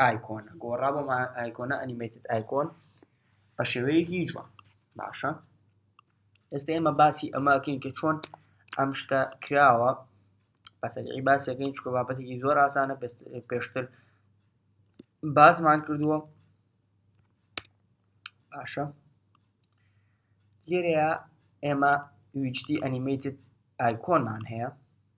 ئایکۆنە گۆڕا بۆ ئایکۆنە ئەنیمێتت ئایکۆن بە شێوەیەکی جوان باشە ئێستا ئێمە باسی ئەماکەین کە چۆن ئەم شتە کراوە بەسەری باسەکەین چکە بابەتێکی زۆر ئاسانە پێشتر باسمان کردووە باشە لێرەیە ئێمە ویچتی ئەنیمەیتت ئایکۆنمان هەیە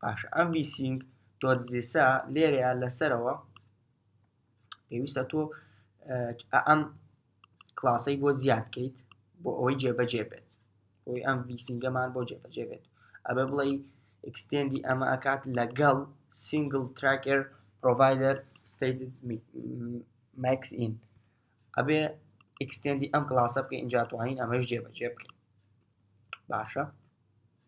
باشە ئەم ڤیسینگ دۆت زیسا لێرەیە لەسەرەوە پێویستە تۆ ئەم کلاسەی بۆ زیاد کەیت بۆ ئەوەی جێبەجێ بێت بۆی ئەم ڤیسینگەمان بۆ جێبەجێ بێت ئەبێ بڵێ ئەکسستێندی ئەمە ئەکات لەگەڵ سینگل تراکر پرۆڤایدەر ستیت ماکس ئین ئەبێ ئەکسستێندی ئەم کلاسە بکە ئینجا توانین ئەمەش جێبەجێ بکەین باشە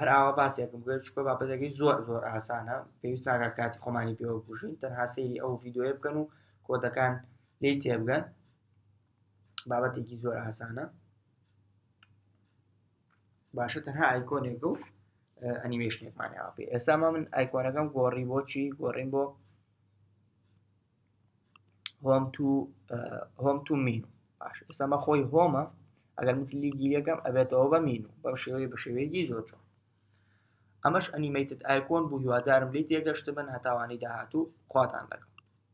هەر ئاوا باسێکم بێت چکە بابەتەکەی زۆر زۆر ئاسانە پێویست ناگە کاتی خۆمانی پێوە بژین تەنها سەیری ئەو ڤیددیوە بکەن و کۆدەکان لی تێبگەن بابەتێکی زۆر ئاسانە باشە تەنها ئایکۆنێک و ئەنیمێشنێکمانیاوە پێ ئێستا من ئایکۆنەکەم گۆڕی بۆچی گۆڕین بۆ هۆم تو هۆم تو مینو باش ئێستا مە خۆی هۆمە ئەگەر من کلیکی یەکەم ئەبێتەوە بە مینو بەم شێوەیە بە شێوەیەکی زۆر جوان ئەمەش ئەنیمەیتت ئایکۆن بوو هیوادارم لی تێگەشت بن هەتاوانی داهاتوو خواتان لەگەڵ